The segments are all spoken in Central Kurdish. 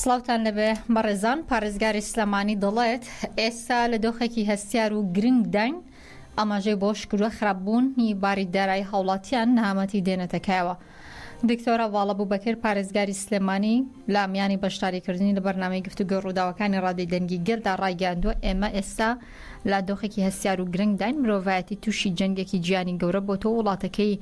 سڵاوتان لەبێ بەڕێزان پارێزگاری سلێمانی دەڵێت ئێستا لە دۆخێکی هەستیار و گرنگ داین ئاماژەی بۆ شکروە خراپبوونی باری دارایی هاوڵاتیان نەهامەتی دێنێتەکایەوە دکتۆرە ڤاڵە بوبەکر پارێزگاری سلێمانی لە میانی بەشداریکردنی لە بەرنامەی گفتوگۆی ڕووداوەکانی ڕادەی دەنگی گەلدا ڕایگەیاندووە ئێمە ئێستا لە دۆخێکی هەستیار و گرنگداین مرۆڤایەتی تووشی جەنگێکی جیانی گەورە بۆ تۆ وڵاتەکەی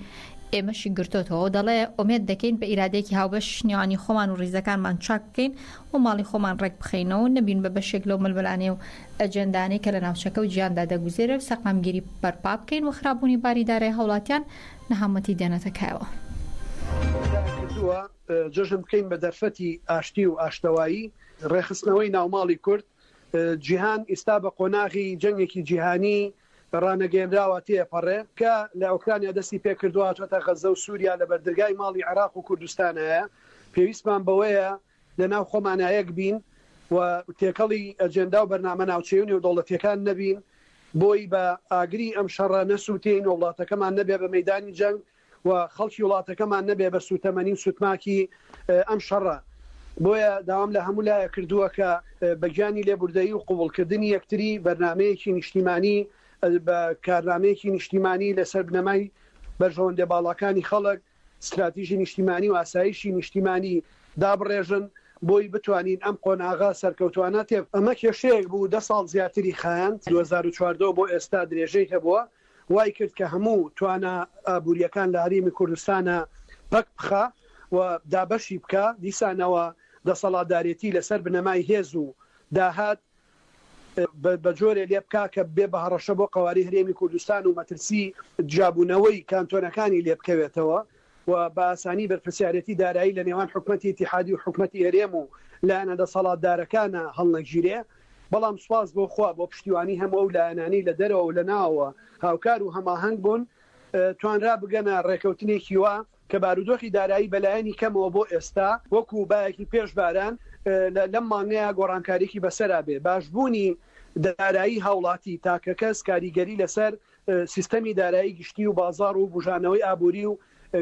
ئێمەشی گرتۆتەوە دەڵێ ئۆمێد دەکەین بە ئیرادێکی هاوبەش نێوانی خۆمان و ڕیزەکانمان چاک بکەین و ماڵی خۆمان ڕێک بخەینەوە نەبین بە بەشێک لەو ململانێ و ئەجێندانەی کە لە ناوچەکە و جیاندا دەگوزێرێ و سەقامگیری بەرپا بکەین و خرابوونی باری دارای هاوڵاتیان نەهامەتی دێنێتە کایەوە. جەژن بکەین بە دەرفەتی ئاشتی و ئاشتەوایی، ڕێکخستنەوەی ناوماڵی کورد، جیهان ئیستا بە قۆناغی جەنگێکی جیهانی ڕانەگەیەنراوە تێەپەڕێ کە لە ئۆکرانیا دەستی پێکردوە هاتوەتە غەزە و سوریا لە بەردرگای ماڵی عێراق و کوردستانایە پێویستمان بەوەیە لە ناو خۆمانا یەک بین و تێکەڵی ئەجێندا و بەرنامە ناوچەی و نێودەوڵەتیەکان نەبین بۆی بە ئاگری ئەم شەڕە نەسوتێین و وڵاتەکەمان نەبێ بە مەیدانی جەنگ و خەڵکی وڵاتەکەمان نەبێ بە سووتەمەنی و سوتماکی ئەم شەڕە. بۆیە داوام لە هەموو لایەک کردووە کە بە گیانی لێبوردەیی و قبوڵکردنی یەکتری بەرنامەیەکی نیشتیمانی بە کارنامەیەکی نیشتیمانی لەسەر بنەمای بەرژەوەندیە باڵاکانی خەڵک، ستراتیژی نیشتیمانی و ئاسایشی نیشتیمانی دابڕێژن بۆی بتوانین ئەم قۆناغە سەرکەوتوانە تێ. ئەمە کێشەیەک بوو دە ساڵ زیاتری خایاند، دوو هەزار و چواردە بۆ ئێستا درێژەی هەبووە، وای کرد کە هەموو توانا ئابوورییەکان لە هەرێمی کوردستانا پەک بخا و دابەشی بکا، دیسانەوە دەسەڵاتدارێتی لە سەر بنەمای هێز و داهات بە جۆرێ لێ بکا کە ببێ بە هەڕەشە بۆ قەوارەی هەرێمی کوردستان و مەترسیی جیابوونەوەی کانتۆنەکانی لێ بکەوێتەوە و بە ئاسانی بەرپرسیارێتی دارایی لە نێوان حکومەتی ئیتیحادی و حکومەتی هەرێم و لایەنە دەسەڵاتدارەکانە هەڵنەگیرێ، بەڵام سوپاس بۆ خوا بۆ پشتیوانی هەموو ئەو لایەنانەی لە دەرەوە و لە ناوەوە هاوکار و هەماهەنگ بوون توانرا بگەنە ڕێکەوتنێکی وا کە بارودۆخی دارایی بە لایەنی کەمەوە بۆ ئێستا وەکوو بایەکی پێش باران لە لەم مانگەیا گۆڕانکاریی بەسەرا بێ. باشبوونی دارایی هاوڵاتی تاکەکەس کاریگەری لەسەر سیستەمی دارایی گشتی و بازاڕ و بوژانەوەی ئابووری و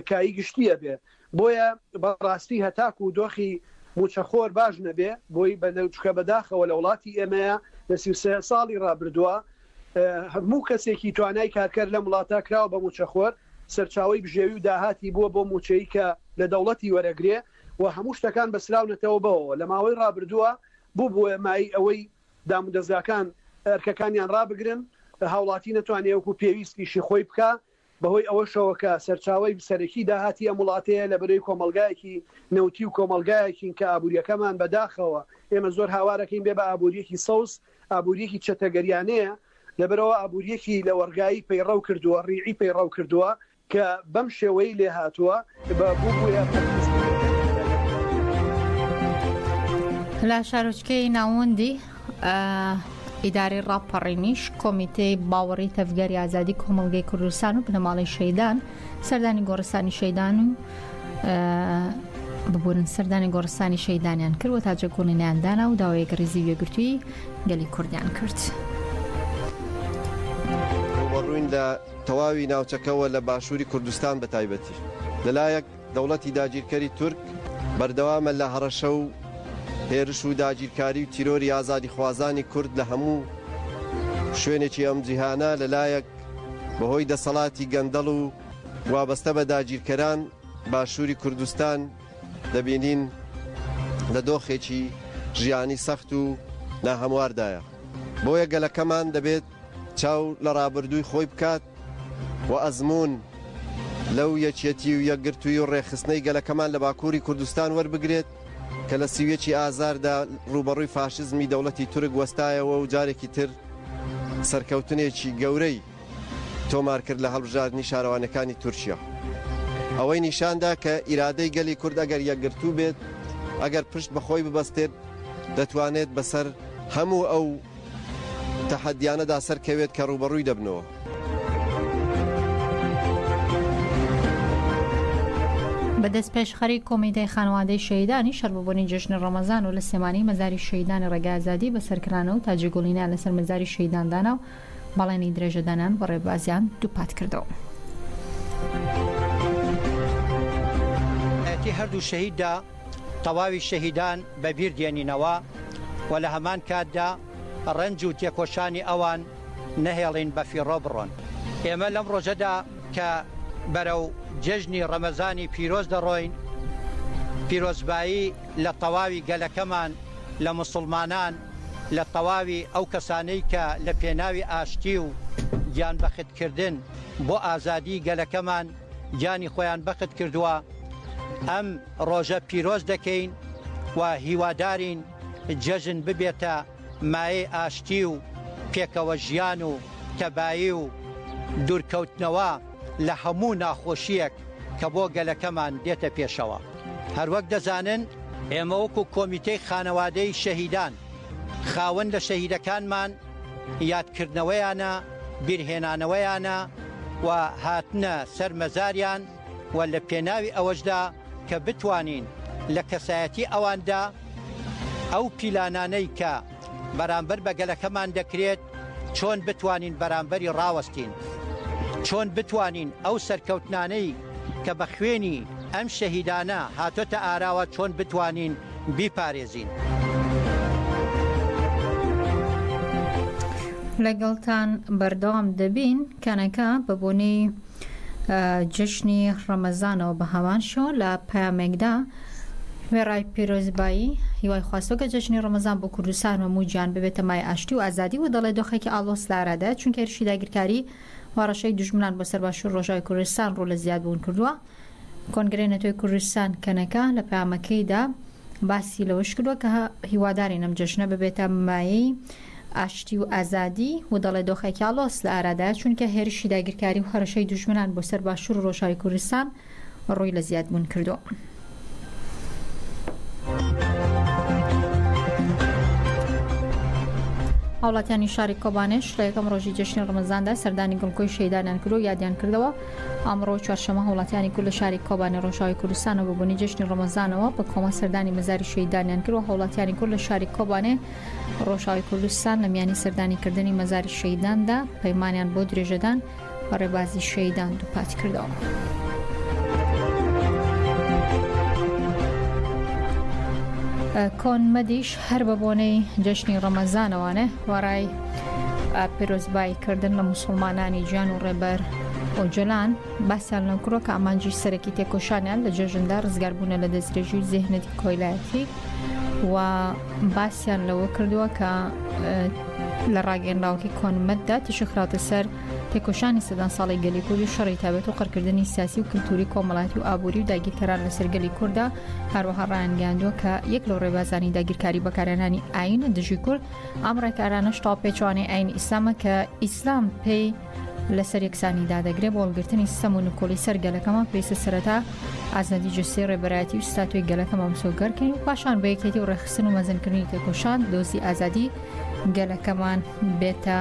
کایی گشتی ئەبێ بۆیە بەڕاستی هەتاکوو دۆخی مووچەخۆر باش نەبێ بۆی بە چکە بەداخەوە لە وڵاتی ئێمەیا لە سی و سێ ساڵی ڕابردووە هەموو کەسێکی توانای کارکەر لەم وڵاتە کراوە بە مووچەخۆر سەرچاوەی بژێوی و داهاتی بووە بۆ مووچەی کە لە دەوڵەتی وەرەگرێ و هەموو شتەکان بەسراونەتەوە بەوەوە لە ماوەی ڕابردووە بووبووە مایەی ئەوەی دامودەزگاکان ئەرکەکانیان ڕابگرن، هاوڵاتی نەتوانێ وەکو پێویست ئیشی خۆی بکا، بەهۆی ئەوەشەوە کە سەرچاوەی سەرەکی داهاتی ئەم وڵاتەیە لە بەرەی کۆمەڵگایەکی نەوتی و کۆمەڵگایەکین کە ئابووریەکەمان بە داخەوە ئێمە زۆر هاوارەکەین بێ بە ئابووریەکی سەوز ئابووریەکی چەتەگەریانەیە لەبەرئەوە ئابووریەکی لەوەڕگایی پەیڕەو کردووە ڕیعی پەیڕەو کردووە کە بەم شێوەی لێهاتووە بە بووبوویە پەرتووکی. لە شارۆچکەی ناوەندی ئیدارەی ڕاپەڕینیش کۆمیتەی باوەڕی تەڤگەری ئازادی کۆمەڵگەی کوردستان و بنەماڵەی شەیدان سەردانی گۆڕستانی شەیدان و ببورن سەردانی گۆڕستانی شەیدانیان کرد و تاجە گۆڵینیان دانا و داوایەک ڕیزی وێگرتووی گەلی کوردیان کرد. ڕووبەڕووین لە تەواوی ناوچەکە و لە باشووری کوردستان بە تایبەتی. لە لایەک دەوڵەتی داگیرکەری تورک بەردەوامە لە هەڕەشە و هێرش و داگیرکاری و تیرۆری ئازادیخوازانی کورد لە هەموو شوێنێکی ئەم جیهانە، لە لایەک بە هۆی دەسەڵاتی گەندەڵ و وابەستە بە داگیرکەران باشووری کوردستان دەبینین لە دۆخێکی ژیانی سەخت و ناهەمواردایە. بۆیە گەلەکەمان دەبێت. چاو لە ڕابردووی خۆی بکات و ئەزموون لەو یەکیەتی و یەکگرتووی و ڕێکخستنەی گەلەکەمان لە باکووری کوردستان وەربگرێت کە لە سی و یەکی ئازاردا ڕووبەڕووی فاشزمی دەوڵەتی تورک وەستایەوە و جارێکی تر سەرکەوتنێکی گەورەی تۆمار کرد لە هەڵبژاردنی شارەوانەکانی تورکیا. ئەوەی نیشاندا کە ئیرادەی گەلی کورد ئەگەر یەکگرتوو بێت، ئەگەر پشت بە خۆی ببەستێت دەتوانێت بەسەر هەموو ئەو تەحەدیانەدا سەر کەوێت کە ڕووبەڕووی دەبنەوە. بە دەستپێشخەری کۆمیتەی خانەوادەی شەهیدانی شەر بە بۆنەی جەژنی ڕەمەزان و لە سلێمانی مەزاری شەهیدانی ڕێگای ئازادی بەسەر کرانە و تاجی گوڵینیان لەسەر مەزاری شەهیدان دانا و بەڵێنی درێژەدانیان بە ڕێبازیان دووپات کردەوە. ی هەردوو شەهیددا تەواوی شەهیدان بە بیر دێنینەوە و لە هەمان کاتدا ڕەنج و تێکۆشانی ئەوان نەهێڵین بە فیڕۆ بڕۆن. ئێمە لەم ڕۆژەدا کە بەرەو جێژنی ڕەمەزانی پیرۆز دەڕۆین، پیرۆزبایی لە تەواوی گەلەکەمان، لە موسڵمانان، لە تەواوی ئەو کەسانەی کە لە پێناوی ئاشتی و گیانبەختکردن بۆ ئازادیی گەلەکەمان، گیانی خۆیان بەخت کردووە ئەم ڕۆژە پیرۆز دەکەین و هیوادارین جەژن ببێتە مایەی ئاشتی و پێکەوە ژیان و تەبایی و دوورکەوتنەوە لە هەموو ناخۆشیەک کە بۆ گەلەکەمان دێتە پێشەوە هەروەک دەزانن ئێمە وەکو کۆمیتەی خانەوادەی شەهیدان خاوەن لە شەهیدەکانمان یادکردنەوەیانە، بیرهێنانەوەیانە و هاتنە سەر مەزاریان و لە پێناوی ئەوەشدا کە بتوانین لە کەسایەتی ئەواندا ئەو پیلانانەی کە بەرامبەر بە گەلەکەمان دەکرێت چۆن بتوانین بەرامبەری ڕاوەستین، چۆن بتوانین ئەو سەرکەوتنانەی کە بە خوێنی ئەم شەهیدانە هاتۆتە ئاراوە چۆن بتوانین بیپارێزین. لەگەڵتان بەردەوام دەبین کەنەکە بە بۆنەی جشنی ڕەمەزانەوە بە هەمان شۆ لە پامێکدا وێڕای پیرۆزبایی هیوای خواستۆکە جەژنی ڕمەزان بۆ کوردستان و موجان ببێتە مای ئاشتی و ئازادی و دەڵێ دۆخێکی ئاڵۆس لارادە چونکە هێرشی داگیرکاری وڕەشەی دژمنان بۆ سەر باشوور ڕۆژای کوردستان ڕوو لە زیادبوون کردووە کۆنگرەی نەتەوەی کوردستان کەنەکە لە پەیامەکەیدا باسی لەوەش کردووە کە هیوادارین ئەم جەژنە ببێتە مایەی ئاشتی و ئازادی و دەڵێ دۆخێکی ئاڵۆس لە ئارادایە چونکە هێرشی داگیرکاری و هەڕەشەی دوژمنان بۆ سەر باشوور و ڕۆژاوی کوردستان ڕووی لە زیادبوون کردووە. هاوڵاتیانی شاری کۆبانێش لە یەکەم ڕۆژی جەژنی ڕەمەزاندا سەردانی گڵکۆی شەیدانیان کرد و یادیان کردەوە ئەمڕۆ چوارشەمە هاوڵاتیانی کورد لە شاری کۆبانی ڕۆژاوی کوردستان و ببوونی جشنی ڕۆمەزانەوە بە کۆمە سەردانی مەزاری شەیدانیان کرد و هاوڵاتیانی کورد لە شاری کۆبانێ ڕۆژاوی کوردستان لە میانی سەردانی کردنی مەزاری شەیداندا پەیمانیان بۆ درێژەدان بە ڕێبازی شەیدان دووپات کردەوە. کۆن مەدیش هەر بە بۆنەی جشنی ڕەمەزانەوانە وەڕای پیرۆزبایی کردن لە مسلمانانی جان و ڕێبەر ئۆجلان باسیان لە کوڕۆک ئامانجی سەرەکی تێکۆشانیان لە جێژندا ڕزگاربوونە لە دەستێژی و زێهنەتی کۆیلایەتی و باسیان لەوە کردووە کە لە ڕاگەنراوەکەی کۆنمەتدا تیشە خراوتە سەر تێکۆشانی سەدان ساڵی گەلی کورد و شەڕی تابێت و قڕکردنی سیاسی و کللتوری کۆمەڵاتی و ئابووری و داگیرکەران لەسەر گەلی کووردا هەروەها ڕایانگەاندووە کە یەک لەو ڕێبازانی داگیرکاری بەکارێنانی ئاینە دژی کورد ئەم ڕێکارانەش تاوپێچوانەی ئاینی ئیسلامە کە ئیسلام پێی لەسەر یەکسانی دادەگرێ بۆ هەڵگرتنی سیستەم و نکۆڵی سەر گەلەکەمان پێویستە سەرەتا ئازادی جستەی ڕێبەرایەتی و ستاتۆی گەلەکەمان مسۆگەرکەین و پاشان بە یەکێتی و ڕێخستن و مەزنکردنی تێکۆشان دۆزی ئازادی گەلەکەمان بێتە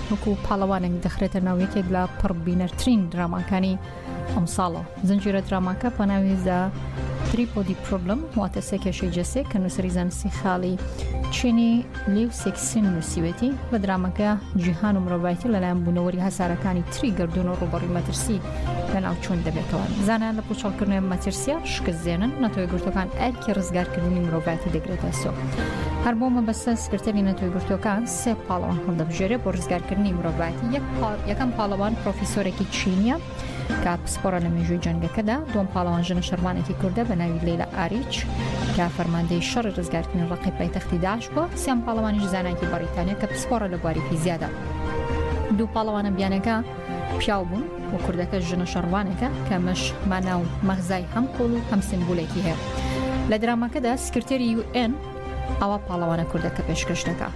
وەکو پاڵەوانێک دەخرێتە ناو یەکێک لە پڕ بینەرترین دراماکانی ئەم ساڵەوە زنجیرە دراماکە بە ناوی زە تریپۆدی پرۆبلم واتە سێ کێشەی جەسێک کە نووسری زانستی خاڵی چینی لیو سێکسین نووسیوێتی بە درامەکە جیهان و مرۆڤایەتی لەلایەن بوونەوەری هەسارەکانی تری گردون و ڕوبڕی مەترسی لە ناوچوون دەبێتەوە زانان لە پوچەڵکردنێن مەترسیە شکستێنن نەتەوەی گرتوەکان ئەرکی ڕزگارکردنی مرۆڤایەتی دەگرێتە سۆ هەر بۆ مەبەستە سکرتەری نەتەوەی گرتوەکان سێ پاڵەوان هەڵدەبژێرێ بۆ ڕزگارکردنی مرۆڤایەتی یەک یەکەم پاڵەوان پرۆفیسۆرێکی چینیە کە پسپۆرە لە مێژووی جەنگەکەدا دوم پاڵەوان ژنە شەرمانێکی کوردە بە ناوی لەیلا ئاریچ کە فەرماندەی شەڕی ڕزگارکردنی ڕقی پایتەختی داش بووە سیان پاڵەوانیش زانایکی بەڕیتانیا کە پسپۆرە لە بواری فیزیادا دوو پاڵەوانە بیانەکە پیاو بوون و کوردەکە ژنە شەڕوانەکە کە مەش ماناو مەغزای هەم قۆڵ و هەم سمبولێکی هەیە لە درامەکەدا سکرتێری UN ئاوا پاڵەوانە کوردەکە پێشکەش دەکا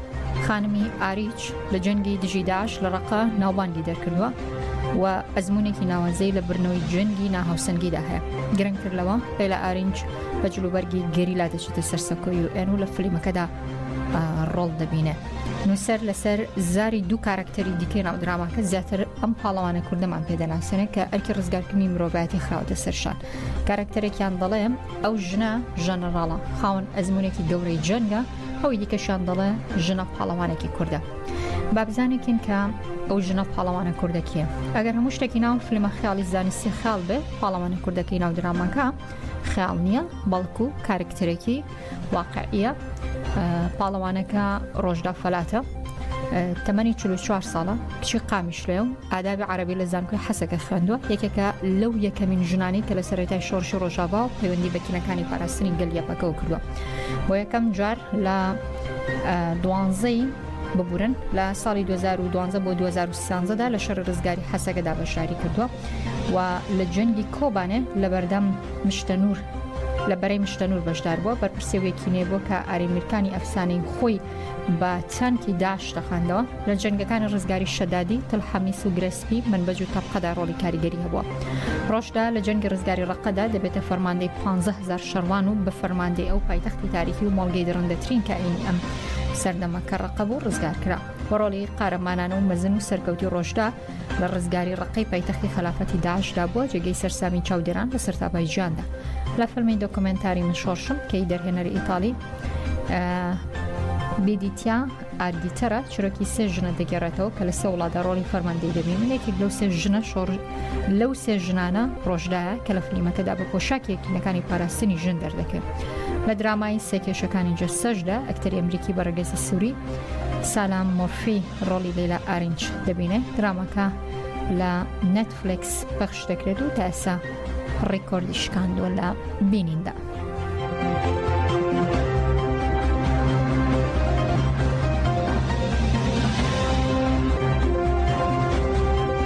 خانمی ئاریچ لە جەنگی دژی داش لە ڕقا ناوبانگی دەرکردووە و ئەزمونێکی ناوازەی لە برنەوەی جەنگی ناهاوسەنگیدا هەیە گرنگتر لەوە پێلا ئارینج بە جلوبەرگی گەریلا دەچێتە سەر سەکۆی و ئێن و لە فلیمەکەدا ڕۆڵ دەبینێ نووسەر لەسەر زاری دوو کارکتەری دیکەی ناو دراماکە زیاتر ئەم پاڵەوانە کوردەمان پێدەناسێنێ کە ئەرکی ڕزگارکردنی مرۆڤایەتی خراوەتە سەرشان کارکتەرێکیان دەڵێ ئەو ژنە ژەنەڕاڵە خاوەن ئەزمونێکی گەورەی جەنگە ئەوی دیکەشان دەڵێ ژنە پاڵەوانێکی کووردە بابزانێکین کە ئەو ژنە پاڵەوانە کوردەکیە ئەگەر هەموو شتێکی ناو فلمە خیاڵی زانستی خیال بێ پاڵەوانە کوردەکەی ناو درامەکە خیال نییە بەڵکو کارکتەرێکی واقعە پاڵەوانەکە ڕۆژدا فەلاتە تەمەنی 44 ساڵە کچی قامیشلێ و ئادابی عەرەبی لە زانکۆی حەسەکە خوێندووە یەکێکە لەو یەکەمین ژنانی کە لە سەرەتای شۆڕشی ڕۆژاڤا و پەیوەندی بە تیمەکانی پاراستنی گەل یەپەکەەوە کردووە بۆ یەکەم جار لە دوانزەی ببورن لە ساڵی 2012 بۆ 2013دا لە شەر ڕزگاری حەسەکەدا بەشداری کردووە و لە جەنگی کۆبانێ لە بەردەم مشتەنور لە بەرەی مشتەنور بەشدار بووە بەرپرسێوێکی نێبووە کە ئاریمیرکانی ئەفسانەی خۆی بە چەمکی داعش تەقاندەوە، لە جەنگەکانی ڕزگاری شەدادی، تل حەمیس و گرێ سپی، مەنبەج و تەبقەدا ڕۆڵی کاریگەری هەبووە. ڕۆشدا لە جەنگی ڕزگاری ڕەققەدا دەبێتە فەرماندەی پانزە هەزار شەڕوان و بە فەرماندەی ئەو پایتەختی تاریکی و مۆڵگەی دڕندەترین کائینی ئەم سەردەمە کە ڕەققە بوو ڕزگار کرا. بە ڕۆڵی قارەمانانە و مەزن و سەرکەوتووی ڕۆشدا، لە ڕزگاری ڕقەی پایتەختی خەلافەتی داعشدا بووە جێگەی سەرسامی چاودێران لە سەرتاپای جیاندا لە فەرمی دۆکمنتاری من شۆڕشم کەی دەرهێنەری ئیتالی بیدیتیا ئاردیتەرە چرۆکی سێ ژنە دەگەڕێتەوە کە لە سێ وڵاتدا ڕۆڵی فەرماندەی دەبی من یەکێک لەو سێ ژنە شۆڕ لەو سێ ژنانە ڕۆژدایە کە لە فلیمەکەدا بە پۆشاکی یەکینەکانی پاراستنی ژن دەردەکەن لە درامایی سێکێشەکانی جەسەشدا ئەکتەری ئەمریکی بەڕگەزی سووری سالام مۆرفی ڕۆڵی لەیلا ئارینچ دەبینێ درامەکە لە نەتفلکس پەخش دەکرێت و تاسا ڕیکۆردی شکاندووە لە بینیندا.